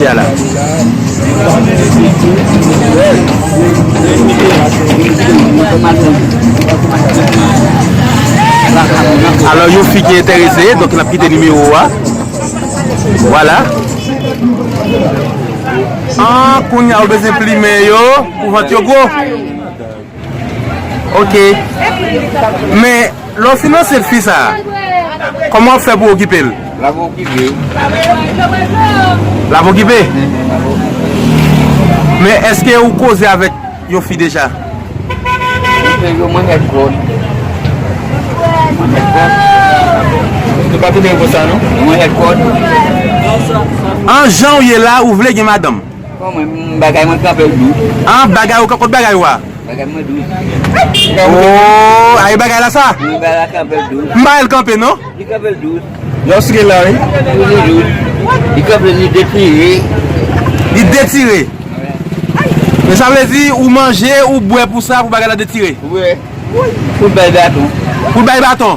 Alò yon fi ki enterese donk nap kite nimewo a Vwala Ahh kounya ou bezwen plimen yo pou vant yo gwo. Ok Men lè w fin ansent fi sa a Kòman w ap fè pou w okipe l? L ap okipe L ap okipe? Men èske ou koze avèk yon fi deja? Mwen fè yon manèt vòt Manèt vòt Nou pa konnen yon vòt sa non Yon manèt vòt An jan w ye la ou vle gen madanm? Bon mwen m bagay mwen kanpel dou. An bagay ou kot bagay ou a. Bagay mwen dou. Ooh a e bagay la sa. M bagay la kanpel dou. M bagay l kanpe non. Li kanpel dou. Yo sou gen la wi. Li dou. Li kanpe li detire. Li detire. Men sa vle di ou manje ou bwe pou sa pou bagay la detire. Wi. Pou l bay baton. Pou l bay baton.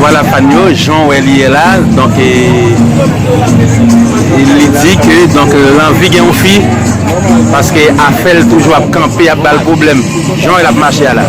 Vwala fan yo, jan w wè li ye la, donk e, li di ke donk l anvi gen yon fi, paske afè l toujou ap kanpe, ap ba l pwoblèm, jan w wè l ap mache a la.